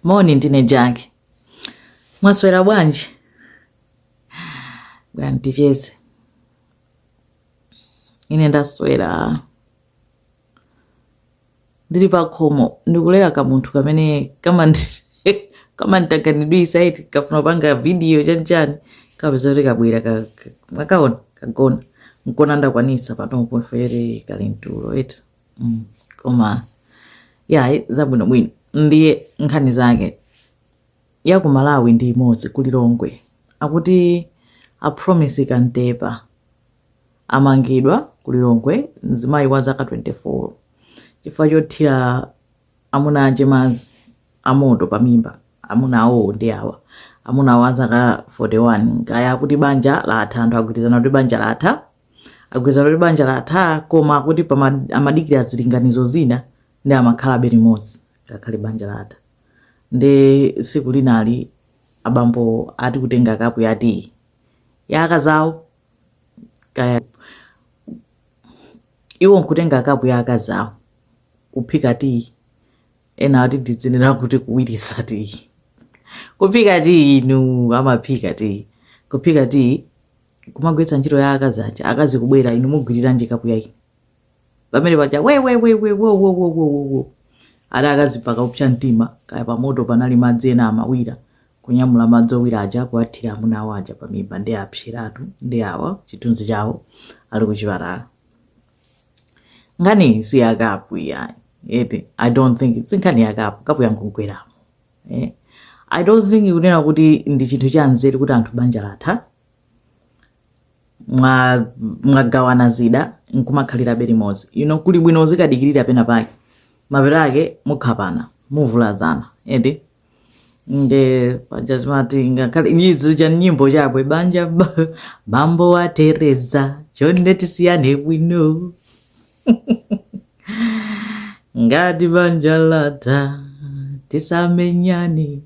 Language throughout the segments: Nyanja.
Moni ndine Jack. Mwaswera bwanji? Bwerani ticheze. Ine ndaswera. Ndili pa khomo ndikulera ka munthu kamene kama ndi- kama nditanganidwisa eti kafuna kupanga video chanchani kapeza kuti kabwera ka- ka- nakaona kagona nkuona ndakwanisa panopo chifukwa choti kali m'tulo eti mm. koma yayi zabwinobwino ndiye nkhani zake ya ku malawi ndi imodzi ku lilongwe akuti a Promise Kantepa amangidwa ku lilongwe mzimayi wa zaka 24 chifukwa chothira amuna ache madzi amoto pamimba amuna awo ndi awa amuna awo azaka 41 kaya akuti banja latha anthu agwirizana kuti banja latha agwirizana kuti banja latha koma akuti pama- amadikira zilinganizo zina nde amakhalabe limodzi ngakhale banja latha nde tsiku linali abambo ati kutenga kapu ya tiyi ya akazawo kaya iwo nkutenga kapu ya akazawo kuphika tiyi ena ati tidzinena kuti kuwirisa tiyi kuphika tiyi inu amaphika tiyi kuphika tiyi kumagwiritsa ntchito ya akazi aja akazi kubwera inu mugwiriranji kapu yayi inu pamene paja wewewewewowowowo nde akazi mpaka kupsa mtima kaya pamoto panali madzi ena amawira kunyamula madzi owira aja kuwathira amuna awo aja pamimba nde apseratu ndi awa chithunzi chawo ali kuchipatala nkhani si yakapu yayi eti i don't think it's nkhani yakapu kapu yankugweramo eh? i don't think kunena kuti ndi chinthu cha nzeru kuti anthu banja latha mwa- mwagawana zida nkumakhalirabe limodzi you know kuli bwino uzikadikirira pena pake mapeto ake muphana muvulazana eti nde paja zimati ngakhale ichi cha nyimbo chakwe banja ba- bambo wa tereza chonde tisiyane bwino ngati banja latha tisamenyane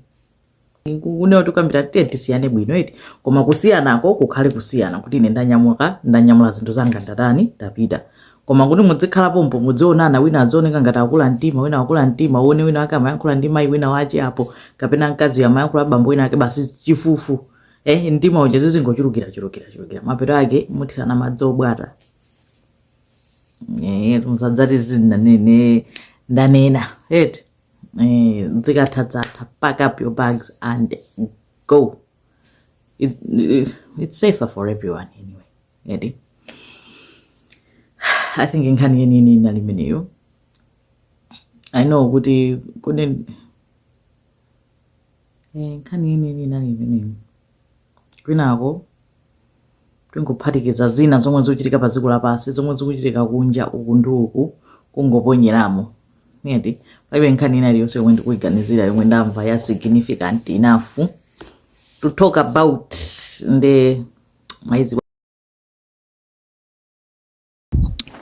kunena tikambirane tiye tisiyane bwino eti koma kusiyanako kukhale kusiyana kuti ine ndanyamuka ndanyamula zinthu zanga ndatani ndapita koma kuti mudzikhala pompo mudzionana wina adzioneka ngati akula mtima wina akula mtima uone wina wake amayankhula ndi mayi wina wache apo kapena mkazi amayankhula bambo wina ake basi chifufu eh mtima uja zizingochulukira chulukira chulukira mapeto ake muthirana madzi obwata Eh, musadzati sindanene ndanena eti eh, dzikathatsatha pack up your bags and go it's, it's, it's safer for everyone anyway eti i think nkhani yeniyeni inali imeneyo i know kuti kune Eh, nkhani yeniyeni inali imeneyi kwinako tingophatikiza zina zomwe zikuchitika pa dziko lapansi zomwe zikuchitika kunja uku ndi uku kungoponyeramo eti palibe nkhani ina iliyonse yomwe ndikuyiganizira yomwe ndamva ya significant enough to talk about nde mayi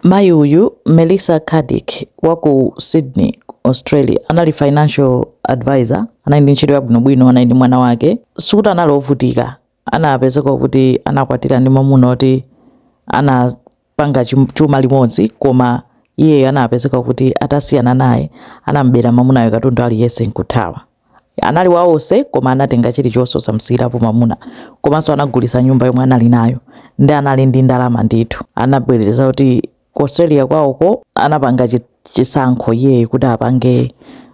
Mayi uyu, Melissa Caddick, wa ku Sydney, ku Australia, anali financial advisor. Anali ndi ntchito yabwinobwino, anali ndi mwana wake. Sikuti anali wovutika. Anapezeka kuti anakwatira ndi mwamuna woti anapanga chuma limodzi, koma iyeyo anapezeka kuti atasiyana naye, anam'bera mwamunayo katundu aliyense n'kuthawa. Anali wa onse koma anatenga chilichonse osamusiyirapo mamuna komanso anagulisa nyumba yomwe anali nayo nde anali ndi ndalama ndithu anabwereza kuti ku Australia kwawoko anapanga chisankho iyeyo kuti apange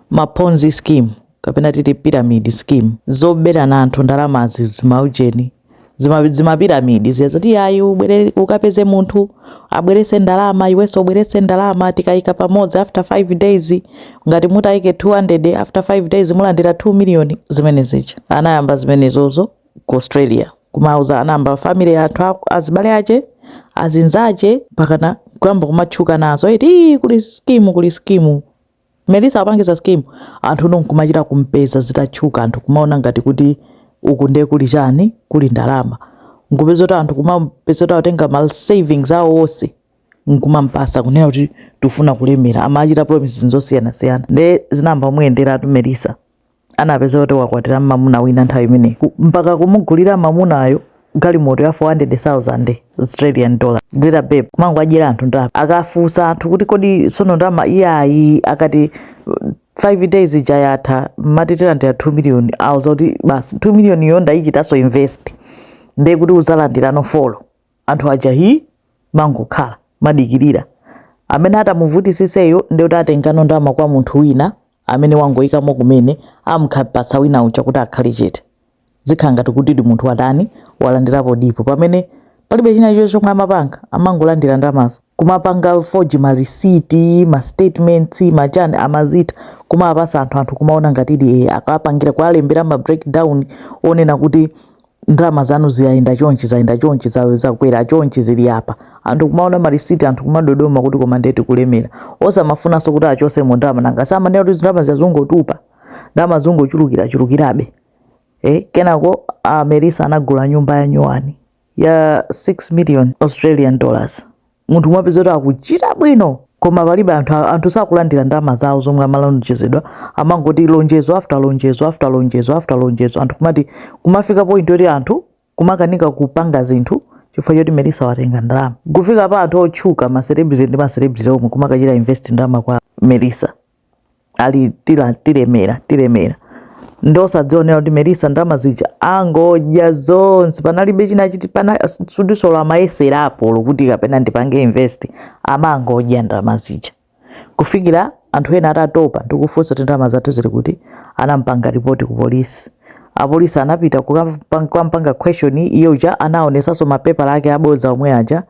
ma ponzi scheme kapena titi, pyramid scheme zoberana anthu ndalamazi zimaujeni zima- zimapiramidi zija zoti ayi ubwere ukapeze munthu abweretse ndalama iwenso ubweretse ndalama tikayika pamodzi after 5 days ngati mutayike 200 after 5 days mulandira 2 million zimene zija anayamba zimenezozo ku australia kumauza anayamba family yake a- azibale ache azinzache pakana kuyamba kumatchuka nazo eti "Ii, kuli skimu kuli skimu Melissa wapangiza scheme anthuno nkumachita kumpeza zitatchuka anthu kumaona ngati kuti uku ndiye kuli chani kuli ndalama nkupezeka kuti anthu kumapezeka kuti atenga ma savings awo onse nkumampasa kunena kuti tufuna kulemera amachita promises zosiyanasiyana nde zinayamba kumuyenderatu Melissa anapezeka kuti wakwatira mamuna wina nthawi imeneyi mpaka kumugulira mamunayo galimoto ya 400,000 Australian dollar ziri bwino kumangowadyera anthu ndalama akafunsa anthu kuti kodi sono ndalama iyayi akati 5 days ija yatha mmati tilandira 2 million awauza kuti basi 2 million yo ndayichitanso invest ndiye kuti uzalandirano folo anthu aja hii kumangokhala kumadikirira amene atamuvutitsitseyo nde kuti atengano ndama kwa munthu wina amene wangoyikamo kumene amukapatsa wina uja kuti akhale chete zikhala ngati kutidi munthu watani walandirapo pomwe pamene palibe china chilichonse chomwe amapanga amangolandira ndamazo kumapanga forge ma receipt ma statements machani amachita kumapatsa anthu anthu kumaona ngatidi e akapangira kuwalembera ma breakdown onena kuti ndalama zanu zayenda chonchi zayenda chonchi za- zakwera chonchi zili apa anthu kumaona marisiti anthu kumadodoma kuti koma nde tikulemera osamafunanso kuti achosemo ndalama nanga samanena kuti ndalama zawo zungotupa ndalama zungochulukira chulukirabe eh, kenako a Melissa anagula nyumba ya nyuwani ya 6 million australian dollars munthu mapeza kuti akuchita bwino koma palibe anthu sakulandira ndalama zawo zomwe amalonjezedwa amangoti lonjezo after lonjezo after lonjezo after lonjezo anthu kumati kumafika point yoti anthu kumakanika kupanga zinthu chifukwa choti Melissa watenga ndalama kufika pa anthu otchuka ma celebrity ndi ma celebrity omwe kumakachita invest ndalama kwa Melissa ali ti- tilemera tilemera nde osadziwa kuti Melissa ndalama zija angodya zonse panalibe china chilichonse amayesera apo olo kuti kapena ndipange invest amangodya ndalama zija kufikira anthu ena atatopa ndikufunsa kuti ndalama zathu zili kuti anampanga ripoti ku polisi apolisi anapita kukampanga question iye uja anaonesanso mapepala ake aboza omwe aja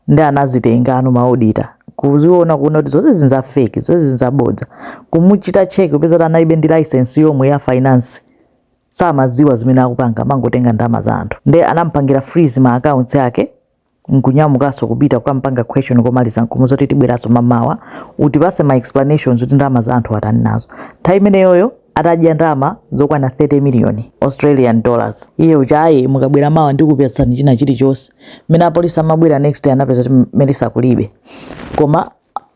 nde anazitengano ma auditor kuziona kuona kuti zonse zi nza fake zonse zi nza bodza kumuchita check kupeza kuti analibe ndi license yomwe ya finance samaziwa zimene akupanga amangotenga ndama za anthu nde anampangira freeze ma accounts ake nkunyamukaso kupita kukampanga question komaliza nkumuuza kuti tibweraso mamawa utipase ma explanations kuti ndama za anthu atani nazo nthawi imeneyoyo atadya ndalama zokwana 30 million australian dollars iye uja ayi mukabwera mawa ndikupatsani china chilichonse mmene apolisi amabwera next day anapeza kuti Melissa kulibe koma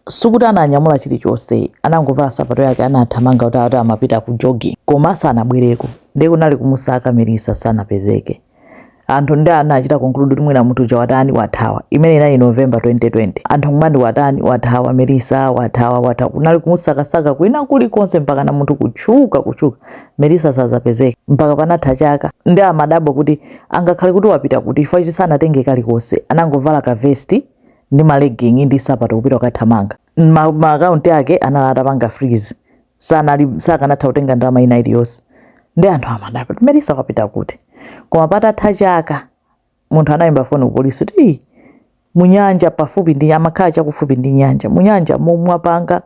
sikuti ananyamula chilichonse anangovala sapato yake anathamanga kuti ati amapita ku jogging koma sanabwereko ndiye kunali kumusaka Melissa sanapezeke anthu nde anachita conclude kuti mwina munthu uja watani wathawa imene inali november 2020 anthu kumati watani wathawa Melissa wathawa wathawa kunali kumusakasaka kwina kulikonse mpakana munthu kutchuka kutchuka Melissa osapezeka mpaka panatha chaka nde amadabwa kuti angakhale kuti wapita kuti chifukwa choti sanatenge kalikonse anangovala kavesti ndi malegging ndi sapato kupita kukathamanga Ma- maakaunti ake anali atapanga freeze sanali sakanatha kutenga ndalama ina iliyonse nde anthu amadabwa kuti Melissa wapita kuti koma patatha chaka munthu anayimba foni ku polisi kuti "Ii, munyanja pafupi nde amakhala chakufupi ndi nyanja munyanjamo mwapanga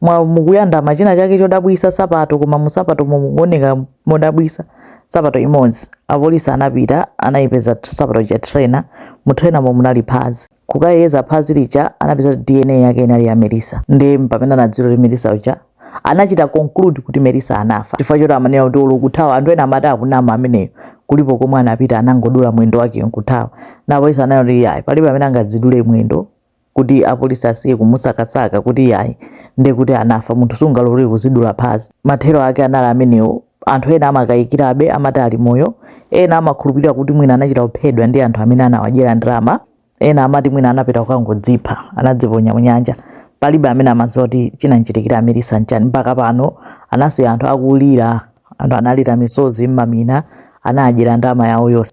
mwa mukuyandama china chake chodabwisa sapato koma musapato mukuoneka modabwisa sapato imodzi apolisi anapita anayipeza sapato cha trainer mu trainermo munali phazi Kukayeza phazi lija anapeza kuti DNA yake inali ya Melissa. Ndiye mpamene anadziwira kuti Melissa uja anachita conclude kuti Melissa anafa chifukwa choti amanena kuti olo kuthawa anthu ena amati akunama ameneyo kulipo komwe anapita anangodula mwendo wake nkuthawa nde apolisi ananena kuti yayi palibe amene angadzidule mwendo kuti apolisi asiye kumusakasaka kuti yayi ndiye kuti anafa munthu sungalolere kuzidula phazi mathero ake anali amenewo Anthu ena amakayikirabe, amati ali moyo. Ena amakhulupirira kuti mwina anachita kuphedwa ndi anthu amene anawadyera ndalama. Ena amati mwina anapita kukangodzipha, anadziponya m'nyanja. Palibe amene amadziwa kuti chinam'chitikira a Melissa n'chani. Mpaka pano, anasiya anthu akulira. Anthu analira misozi n'mamina. Anawadyera ndalama yawo yonse.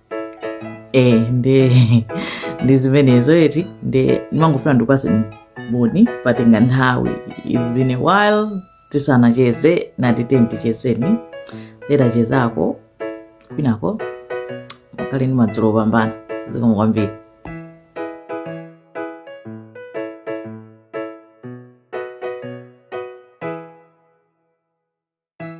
eh nde ndi zimenezo eti nde ndimangofuna ndikupase moni patenga nthawi it's been a while tisanacheze nati tentichezeni titachezako kwinako mukhale ndi madzulo opambana zikomo kwambiri